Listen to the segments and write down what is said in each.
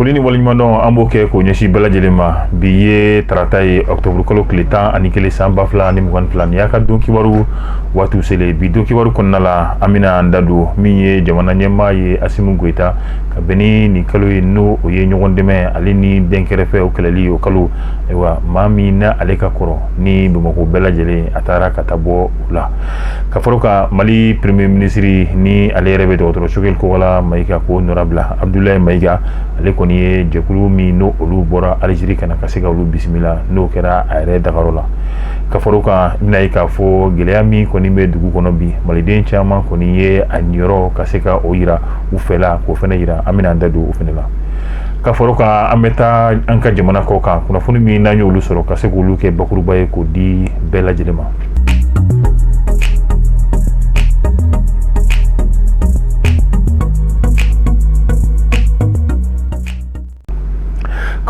foli ni waleɲumandɔn an b'o kɛ k'o ɲɛsin bɛɛ lajɛlen ma bi ye tarata ye ɔktɔburu kalo tile tan ani kelen san ba fila ni mugan fila nin y'aw ka don kibaru waatiw selen bi don kibaru kɔnɔna la an bɛna an da don min ye jamana ɲɛmaa ye asimu goyita ka bɛn ni nin kalo ye n'o o ye ɲɔgɔn dɛmɛ ale ni dɛnkɛrɛfɛ o kɛlɛli o kalo ayiwa maa min na ale ka kɔrɔ ni bamakɔ bɛɛ lajɛlen a taara ka taa bɔ la ka fara kan mali premier minisiri ni ale yɛrɛ bɛ dɔgɔtɔrɔ sogɛli kokala mayiga k'o nɔrabila abudulayi mayiga ale kɔni ye jɛkulu min n'o olu bɔra alizeri ka na ka se ka olu bisimila n'o kɛra a yɛrɛ dagayɔrɔ la ka fara kan i bɛna ye k'a fɔ gɛlɛya min kɔni bɛ dugu kɔnɔ bi maliden caman kɔni ye a niyɔrɔ ka se ka o yira u fɛla k'o fɛnɛ yira an bɛna an da don o fɛnɛ la ka fara kan an bɛ taa an ka jamana kɔkan kunnafoni min n'an y'olu sɔrɔ ka se k'olu kɛ bakuruba ye k'o di bɛɛ lajɛlen ma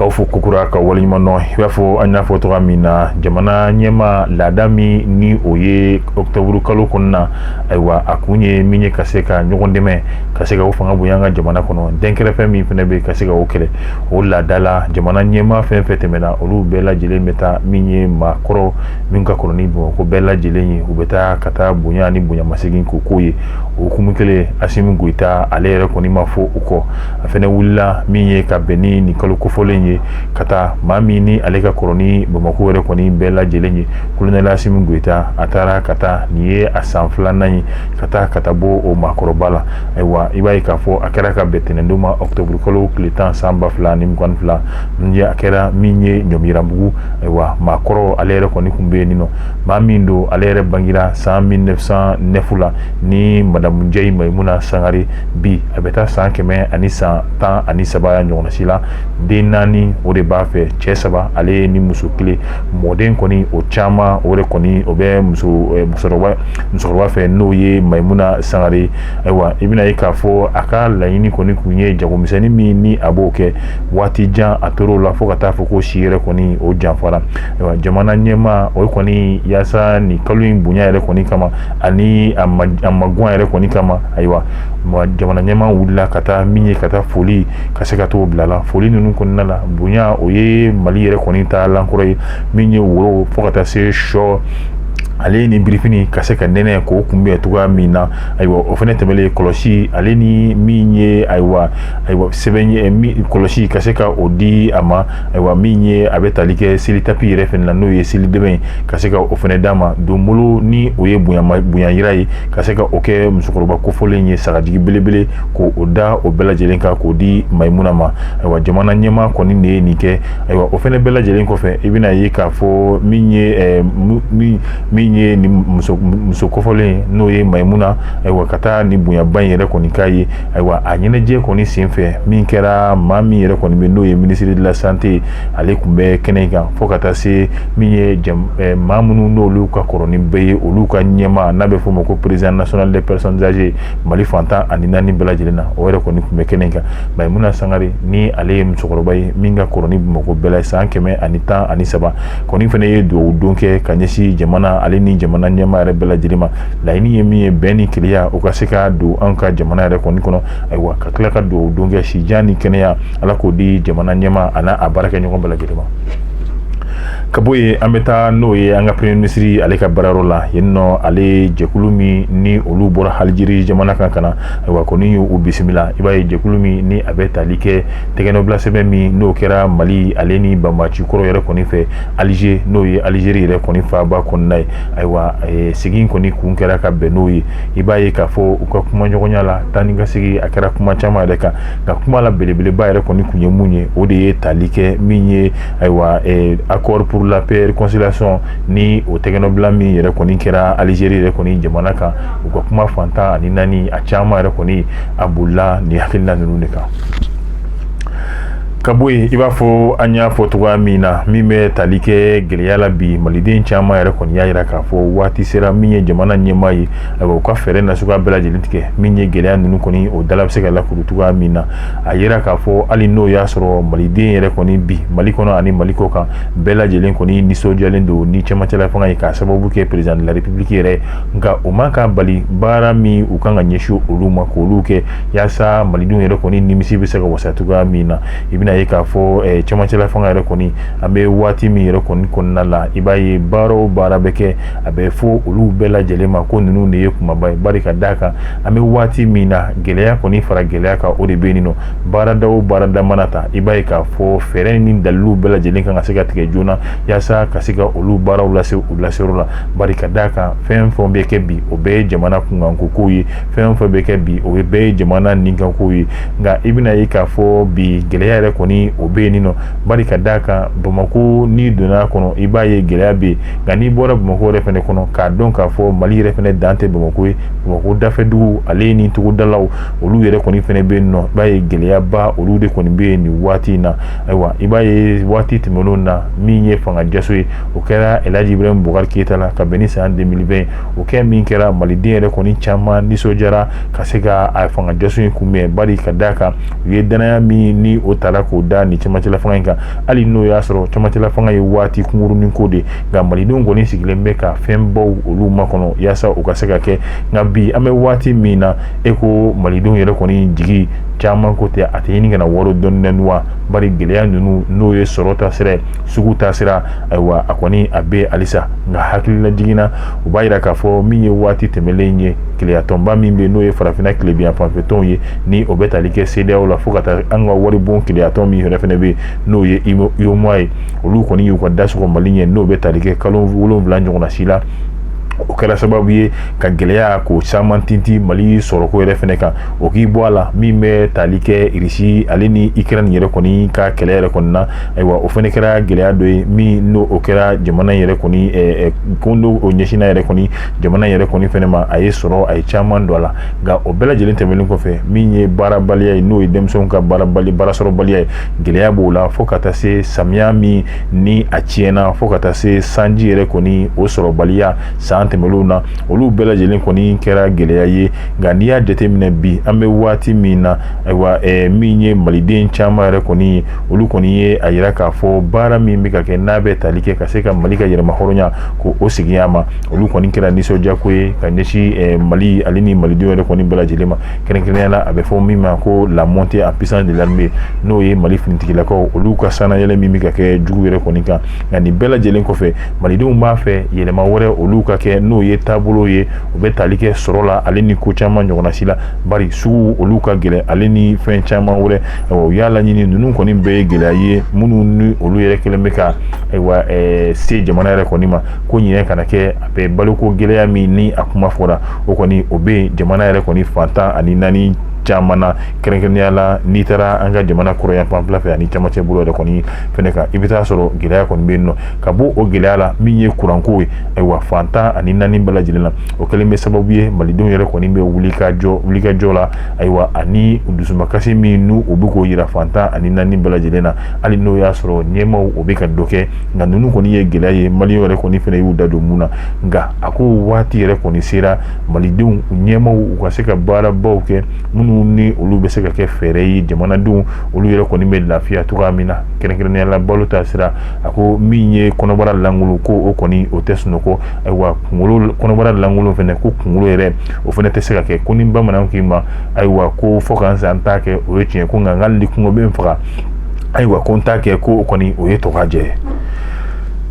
k'aw fo kokura k'aw waleɲuman dɔn i b'a fɔ an y'a fɔ cogoya min na jamana ɲɛmaa laada min ni o ye octobre kalo kɔnɔna ayiwa a kun ye min ye ka se ka ɲɔgɔn dɛmɛ ka se ka o fanga bonya an ka jamana kɔnɔ dɛnkɛrɛfɛ min fɛnɛ bɛ ka se ka o kɛlɛ o laada la jamana ɲɛmaa fɛn fɛn tɛmɛna olu bɛɛ lajɛlen bɛ taa min ye maakɔrɔ min ka kɔrɔ ni bamakɔ bɛɛ lajɛlen ye u bɛ taa ka taa bonya ni bonyamasegin k'o k'o ye o hukumu kelen asimi goyita ale yɛrɛ kɔni ma fɔ u kɔ a fɛnɛ wulila min ye ka bɛn ni nin kalo kofɔlen ye ka taa maa min ni ale ka kɔrɔ ni bamakɔ yɛrɛ kɔni bɛɛ lajɛlen ye kolonɛli asimi goyita a taara ka taa nin ye a san filanan ye ka taa ka taa bɔ o maakɔrɔba la ayiwa i b'a ye k'a fɔ a kɛra ka bɛn tɛnɛndon ma ɔkutɔburukalo tile tan san ba fila ni mugan fila min ye a kɛra min ye ɲɔmiranbugu ayiwa maa kɔrɔ ale yɛrɛ kɔni kun bɛ yen nɔ maa min don ale yɛrɛ bangera san mille neuf cent neuf la ni madamu njayi mayimuna sangare bi a bɛ taa san kɛmɛ ani san tan ani saba ɲɔgɔnna si la den naani o de b'a fɛ cɛ saba ale ye ni muso kelen mɔden kɔni o caman o de kɔni o bɛ musokɔrɔba fɛ n'o ye mayimuna sangare ayiwa i bɛna ye k'a fɔ a ka laɲini kɔni kun ye jagomisɛnnin min ni a b'o kɛ waati jan a tor'o la fo ka taa fɔ ko si yɛrɛ kɔni o janfara ayiwa jamana ɲɛmaa o kɔni yaasa nin kalo in bonya yɛrɛ kɔni kama ani a maguwa yɛrɛ kɔni kama ayiwa jamana ɲɛmaa wulila ka taa min ye ka taa foli ka se ka t'o bila la foli ninnu kɔnɔna la bonya o ye mali yɛrɛ kɔni taalan kɔrɔ ye min ye woro fo ka taa se sɔ ale ni birifini ka se ka nɛnɛ k'o kunbɛn cogoya min na ayiwa o fɛnɛ tɛmɛlen kɔlɔsi ale ni min ye ayiwa ayiwa sɛbɛn ye min kɔlɔsi ka se ka o di a ma ayiwa min ye a bɛ tali kɛ seli tapi yɛrɛ fɛnɛ la n'o ye seli dɛmɛ ye ka se ka o fɛnɛ d'a ma donbolo ni o ye bonya yira ye ka se ka o kɛ musokɔrɔba kofɔlen ye sagajigi belebele k'o da o bɛɛ lajɛlen kan k'o di mayimuna ma ayiwa jamana ɲɛmaa kɔni de ye nin kɛ ayiwa o fɛnɛ bɛɛ lajɛlen kɔfɛ i bɛna ye k'a fɔ min ye min ye muso kofɔlen n'o ye mayimuna ayiwa ka taa ni bonyaba in yɛrɛ kɔni k'a ye ayiwa a ɲɛnajɛ kɔni senfɛ min kɛra maa min yɛrɛ kɔni bɛ n'o ye ministre de la santé ale kun bɛ kɛnɛ in kan fo ka taa se min ye maa minnu n'olu ka kɔrɔ ni bɛɛ ye olu ka ɲɛmaa n'a bɛ f'o ma ko président national des personnes âgées mali fan tan ani naani bɛɛ lajɛlen na o yɛrɛ kɔni kun bɛ kɛnɛ in kan mayimuna sangare ni ale ye musokɔrɔba ye min ka kɔrɔ ni mɔgɔ bɛɛ la san kɛmɛ ani tan ani saba kɔni fɛnɛ ye dugawu don kɛ ka ɲɛsin jamana ale ni jamana ɲɛmaa yɛrɛ bɛɛ lajɛlen ma laɲini ye min ye bɛn ni kelenya o ka se ka don an ka jamana yɛrɛ kɔni kɔnɔ ayiwa ka tila ka dugawu don kɛ sijan ni kɛnɛya ala k'o di jamana ɲɛmaa ani a baarakɛɲɔgɔn bɛɛ lajɛlen ma ka bɔ yen an bɛ taa n'o ye an ka premier ministre ale ka baarayɔrɔ la yen nɔ ale jɛkulu min ni olu bɔra alizeri jamana kan ka na ayiwa kɔni y'u bisimila i b'a ye jɛkulu min ni a bɛ tali kɛ tɛgɛnɔbila sɛbɛn min n'o kɛra mali ale ni banbaanci kɔrɔ yɛrɛ kɔni fɛ alize n'o ye alizeri yɛrɛ kɔni faaba kɔnɔna ye ayiwa sigi kɔni kun kɛra ka bɛn n'o ye i b'a ye k'a fɔ u ka kuma ɲɔgɔnya la taa ni ka segin a kɛra kuma caman yɛrɛ kan nka kuma la belebeleba yɛrɛ kɔni kun ye mun ye o de ye tali kɛ min ye ayiwa accord pour la paix et réconciliation ni o tɛgɛnɔbila min yɛrɛ kɔni kɛra alizeri yɛrɛ kɔni jamana kan u ka kuma fan tan ani naani a caman yɛrɛ kɔni a bolila ni hakilila ninnu de kan ka bɔ yen i b'a fɔ an y'a fɔ cogoya min na min bɛ tali kɛ gɛlɛya la bi maliden caman yɛrɛ kɔni y'a jira k'a fɔ waati sera min ye jamana ɲɛmaa ye ayiwa u ka fɛɛrɛ nasuguya bɛɛ lajɛlen tigɛ min ye gɛlɛya ninnu kɔni o dala bɛ se ka lakuru cogoya min na a jira k'a fɔ hali n'o y'a sɔrɔ maliden yɛrɛ kɔni bi mali kɔnɔ ani mali kɔkan bɛɛ lajɛlen kɔni nisɔndiyalen don ni cɛmancɛla fanga ye k'a sababu kɛ président de la république yɛrɛ nka o ma ka bali baara min u kan ka ɲɛsin olu ma k'olu kɛ yaasa malidenw yɛrɛ kɔni nimisi bɛ se ka wasa cogoya min na i bɛna ye k'a fɔ eh, cɛmancɛla fanga yɛrɛ kɔni an bɛ waati min yɛrɛ kɔni kɔnɔna la i b'a ye baara o baara bɛ kɛ a bɛ fɔ olu bɛɛ lajɛlen ma ko ninnu de ye kumaba ye bari ka d'a kan an bɛ waati min na gɛlɛya kɔni fara gɛlɛya kan o de bɛ yen nɔ baarada o baarada mana ta i b'a ye k'a fɔ fɛɛrɛ ni dalilu bɛɛ lajɛlen kan ka se ka tigɛ joona yaasa ka se ka olu baaraw lase u laseyɔrɔ la bari ka d'a kan fɛn fɛn bɛ kɛ bi o bɛɛ ye jamana kunkanko kow ye fɛn fɛn bɛ kɛ bi o ye bɛɛ ye jamana ni kan ko ye nka i bɛna ye k'a fɔ bi gɛlɛya yɛrɛ kɔni o bɛ yen nɔ bari ka d'a kan bamakɔ n'i donna a kɔnɔ i b'a ye gɛlɛya bɛ yen nka n'i bɔra bamakɔ yɛrɛ fɛnɛ kɔnɔ k'a dɔn k'a fɔ mali yɛrɛ fɛnɛ dan tɛ bamakɔ ye bamakɔ dafɛdugu ale ni togodalaw olu yɛrɛ kɔni fɛnɛ bɛ yen nɔ i b'a ye gɛlɛyaba olu de kɔni bɛ yen nin waati in na ayiwa i b'a ye waati tɛmɛnenw na min ye fanga jaso ye o kɛra elaji ibrahim bubakari keyita la ka bɛn ni san deux mille vingt o kɛ min kɛra maliden yɛrɛ kɔni caman nisɔndiyara ka se ka a fanga jaso in kunbɛn bari ka d'a kan u ye dannaya min ni o tara k'o da ni camancɛla fanga in kan hali n'o y'a sɔrɔ camancɛla fanga ye waati kunkurunin ko de nka malidenw kɔni sigilen bɛ ka fɛn baw olu makɔnɔ yaasa u ka se ka kɛ nka bi an bɛ waati min na e ko malidenw yɛrɛ kɔni jigi caman ko tɛ a tɛ ɲini ka na waaro dɔɔnin wa bari gɛlɛya ninnu n'o ye sɔrɔ taasira sugu taasira ayiwa a kɔni a bɛ halisa nka hakililajigin na o b'a yira k'a fɔ min ye waati tɛmɛlen ye kelenyatɔnba min bɛ n'o ye farafinna tilebinyanfanfɛ tɔnw ye ni o bɛ tali kɛ cedeao la fo ka taa an ka waribon kelenyatɔn min yɛrɛ fɛnɛ bɛ n'o ye uemoa ye olu kɔni y'u ka da sɔgɔ mali ɲɛ n'o bɛ tali kɛ kalo wolonwula ɲɔgɔnna si la o kɛra sababu ye ka gɛlɛya ko caman tinti mali sɔrɔko yɛrɛ fɛnɛ kan o k'i bɔ a la min bɛ tali kɛ irisi ale ni ukraine yɛrɛ kɔni ka kɛlɛ yɛrɛ kɔni na ayiwa o fɛnɛ kɛra gɛlɛya dɔ ye min n'o o kɛra jamana yɛrɛ kɔni ko n'o o ɲɛsinna yɛrɛ kɔni jamana yɛrɛ kɔni fɛnɛ ma a ye sɔrɔ a ye caman don a la nka o bɛɛ lajɛlen tɛmɛnen kɔfɛ min ye baarabaliya ye n'o ye denmisɛnw ka baarasɔrɔbaliya ye gɛlɛya b'o la fo ka taa se samiya min ni a tiɲɛna fo ka taa se sanji yɛrɛ kɔni o sɔrɔbaliya san tɛmɛlenw na olu bɛɛ lajɛlen kɔni kɛra gɛlɛya ye nka n'i y'a jateminɛ bi an bɛ waati min na ayiwa min ye maliden caman yɛrɛ kɔni ye olu kɔni ye a yira k'a fɔ baara min bɛ ka kɛ n'a bɛ tali kɛ ka se ka mali ka yɛrɛmahɔrɔnya ko o segin a ma olu kɔni kɛra nisɔndiyako ye ka ɲɛsin eh, mali ale ni malidenw yɛrɛ kɔni bɛɛ lajɛlen ma kɛrɛnkɛrɛnya la a bɛ fɔ min ma ko la montée en puissance de l'armée n'o ye mali finitigilakaw olu ka sanayɛlɛ min bɛ ka kɛ jugu yɛrɛ kɔni kan nka nin bɛɛ lajɛlen kɔfɛ malidenw b'a fɛ yɛlɛma wɛrɛ olu ka kɛ n'o ye taabolo ye o bɛ tali kɛ sɔrɔ la ale ni ko caman ɲɔgɔnna si la bari sugu olu ka gɛlɛn ale ni fɛn caman wɛrɛ u y'a laɲini ninnu kɔni bɛɛ ye gɛlɛya ye minnu ni olu yɛrɛ kɛlen bɛ ka ayiwa eh, se jamana yɛrɛ kɔni ma ko ɲinɛ kana kɛ a bɛ baloko gɛlɛya min ni a kuma fɔra o kɔni o bɛ jamana yɛrɛ kɔni fan tan ani naani caman na kɛrɛnkɛrɛnnenya la n'i taara an ka jamana kɔrɔnyanfanfɛla fɛ ani camancɛ bolo yɛrɛ kɔni fɛnɛ kan i bɛ taa sɔrɔ gɛlɛya kɔni bɛ yen nɔ ka bɔ o gɛlɛya la min ye kuranko ye ayiwa fan tan ani naani bɛɛ lajɛlen na o kɛlen bɛ sababu ye malidenw yɛrɛ kɔni bɛ wulikajɔ la ayiwa ani dusumakasi min n'u u bɛ k'o jira fan tan ani naani bɛɛ lajɛlen na hali n'o y'a sɔrɔ ɲɛmaw o bɛ ka dɔ kɛ nka ninnu kɔni ye gɛlɛya ye mali yɛrɛ kɔni fana y'u da don min na nka a ko waati yɛrɛ kɔni sera malidenw ɲɛmaw u ka se ka baarabaw kɛ minnu ni olu bɛ se ka kɛ fɛɛrɛ ye jamanadenw olu yɛrɛ kɔni bɛ lafiya cogoya min na kɛrɛnkɛrɛnnenya la balo taasira a ko min ye kɔnɔbara lankolon ko o kɔni o tɛ sunɔgɔ ayiwa kunkolo kɔnɔbara lankolon fana ko kunkolo yɛrɛ o fana tɛ se ka kɛ ko ni bamananw k'i ma ayiwa ko fo ka sa n t'a kɛ o ye tiɲɛ ko nka ni kɔngɔ bɛ n faga ayiwa ko n t'a kɛ ko o kɔni o ye tɔgɔjɛ ye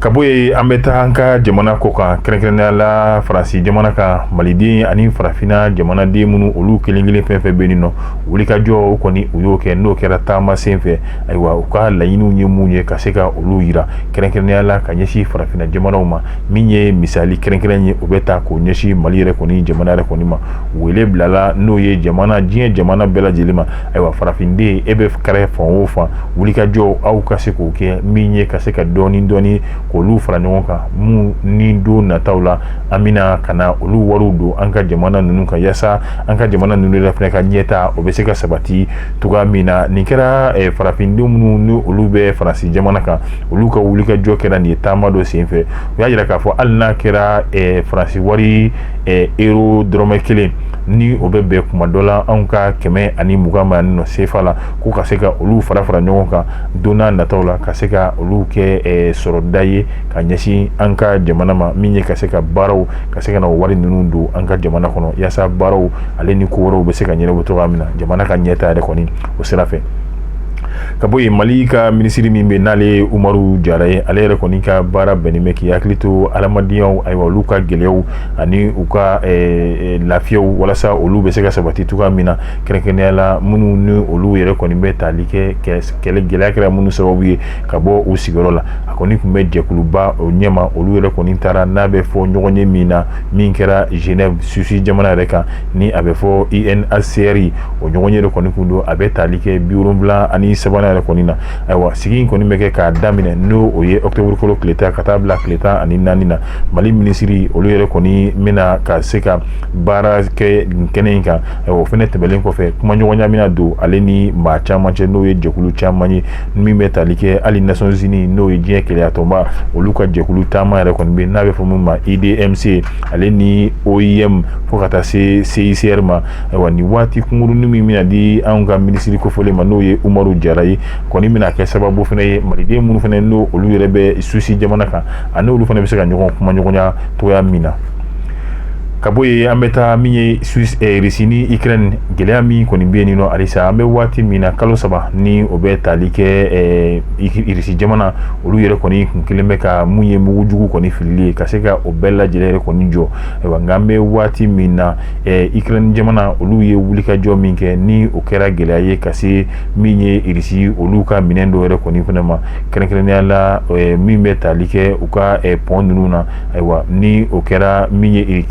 ka bɔ yen an bɛ taa an ka jamana kɔkan kɛrɛnkɛrɛnnenya la faransi jamana kan maliden ani farafinna jamanaden minnu olu kelenkelen fɛn o fɛn bɛ yen nɔ wulikajɔ o kɔni u y'o kɛ n'o kɛra taama sen fɛ ayiwa u ka laɲiniw ye minnu ye ka se ka olu jira kɛrɛnkɛrɛnnenya la ka ɲɛsin farafinna jamanaw ma min ye misali kɛrɛnkɛrɛn ye o bɛ taa k'o ɲɛsin mali yɛrɛ kɔni jamana yɛrɛ kɔni ma wele bilala n'o ye jamana diɲɛ jamana bɛɛ lajɛlen ma ayiwa farafinden e bɛ kɛrɛ fan o fan wulikajɔ aw ka se k'o kɛ min ye ka se ka dɔɔni dɔɔni k'olu fara ɲɔgɔn kan minnu ni don nataw la an bɛna ka na olu wariw don an ka jamana ninnu kan yaasa an ka jamana ninnu yɛrɛ fana ka ɲɛtaa o bɛ se ka sabati cogoya min na nin kɛra farafindenw minnu ni olu bɛ faransi jamana kan olu ka wulikajɔ kɛra nin ye taama dɔ senfɛ u y'a jira k'a fɔ hali n'a kɛra eh, faransi wari eh, euro dɔrɔmɛ kelen ni o bɛ bɛn kuma dɔ la anw ka kɛmɛ ani mugan ma nɔ sefa la ko ka se ka olu fara fara ɲɔgɔn kan don na nataw la ka se ka olu kɛ eh, sɔrɔda ye ka ɲɛsin an ka jamana ma min ye ka se ka baaraw ka se ka na o wari ninnu don an ka jamana kɔnɔ yaasa baaraw ale ni ko wɛrɛw bɛ se ka ɲɛnabɔ cogoya min na jamana ka ɲɛtaa yɛrɛ kɔni o sira fɛ ka bɔ yen mali ka minisiri min bɛ n'ale ye umaru jara ye ale yɛrɛ kɔni ka baara bɛnnen bɛ k'i hakili to adamadenyaw ayiwa olu ka gɛlɛyaw ani u ka eh, eh, lafiyaw walasa olu bɛ se ka sabati cogoya min na kɛrɛnkɛrɛnnenya la minnu ni olu yɛrɛ kɔni bɛ tali kɛ kɛlɛ gɛlɛya kɛra minnu sababu ye ka bɔ u sigiyɔrɔ la a kɔni tun bɛ jɛkuluba o ɲɛma olu yɛrɛ kɔni taara n'a bɛ fɔ ɲɔgɔnye min na min kɛra genève suisse jamana yɛrɛ kan ni a bɛ fɔ unhcr o ɲɔgɔnye yɛrɛ kɔni tun don a bɛ tali kɛ biwolonwula ani sabanan yɛrɛ kɔni na ayiwa sigi in kɔni bɛ kɛ k'a daminɛ n'o ye octobre kalo tile tan ka taa bila tile tan ani naani na mali minisiri olu yɛrɛ kɔni bɛna ka se ka baara kɛ kɛnɛ in kan o fana tɛmɛlen kɔfɛ kumaɲɔgɔnya bɛna don ale ni maa caman cɛ n'o ye jɛkulu caman ye min bɛ tali kɛ hali nations unies n'o ye diɲɛ kelenyatɔnba olu ka jɛkulu taama yɛrɛ kɔni bɛ n'a bɛ fɔ min ma idmc ale ni oim fo ka taa se CICR ma ayiwa nin waati kunkurunin min bɛna di anw ka minisiri kofɔlen ma n'o ye Umaru Jara ye kɔni bɛna kɛ sababu fɛnɛ ye maliden minnu fɛnɛ n'o olu yɛrɛ bɛ Suisse jamana kan ani olu fɛnɛ bɛ se ka ɲɔgɔn kumaɲɔgɔnya cogoya min na ka bɔ yen an bɛ taa min ye Suisse eh, Russie ni Ukraine gɛlɛya min kɔni bɛ yen nin nɔ halisa an bɛ waati min na kalo saba ni o bɛ tali kɛ eh, Russie jamana olu yɛrɛ kɔni kun kelen bɛ ka mun ye mugu jugu kɔni filili ye ka se ka o bɛɛ lajɛlen yɛrɛ kɔni jɔ ayiwa nka an bɛ waati min na Ukraine jamana olu ye wulikajɔ min kɛ ni o kɛra gɛlɛya ye ka se min ye irisi olu ka minɛn dɔ yɛrɛ kɔni fɛnɛ ma kɛrɛnkɛrɛnnenya la min bɛ tali kɛ u ka pɔn ninnu na ayiwa ni o kɛra min ye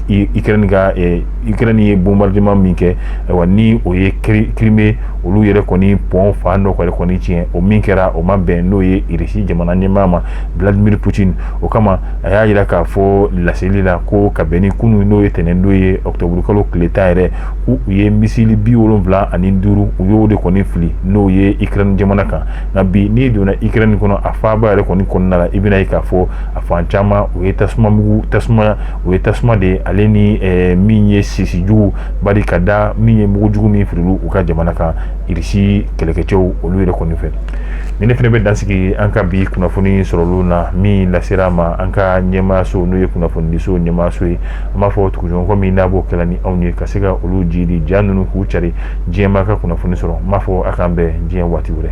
Ukraine ye bombardement min kɛ ayiwa ni o ye Crimée olu yɛrɛ kɔni pɔn fan dɔ yɛrɛ kɔni tiɲɛ o min kɛra o ma bɛn n'o ye irisi jamana ɲɛmaa ma Vladimir Poutine o kama a y'a jira k'a fɔ laseli la ko ka bɛn ni kunun n'o ye tɛnɛndon ye ɔkutɔburukalo tile tan yɛrɛ ko u ye misili bi wolonwula ani duuru u y'o de kɔni fili n'o ye Ukraine jamana kan nka bi n'i donna Ukraine kɔnɔ a faaba yɛrɛ kɔni kɔnɔna la i bɛna ye k'a fɔ a fan caman o ye tasuma mugu tasuma o ye tasuma de ye ale ni eh, min ye sisi jugu bari ka da min ye mugu jugu min firila u ka jamana kan irisi kɛlɛkɛcɛw olu yɛrɛ kɔni fɛ ni ne fɛnɛ bɛ dansigi an ka bi kunnafoni sɔrɔlenw na min lasera ma an ka ɲɛmaayaso n'o ye kunnafonidiso ɲɛmaayaso ye an b'a fɔ tuguɲɔgɔnkɔ min n'a b'o kɛla ni anw ye ka se ka olu jidi ja ninnu k'u cari diɲɛmaa ka kunnafoni sɔrɔ n b'a fɔ a k'an bɛn diɲɛ waati wɛrɛ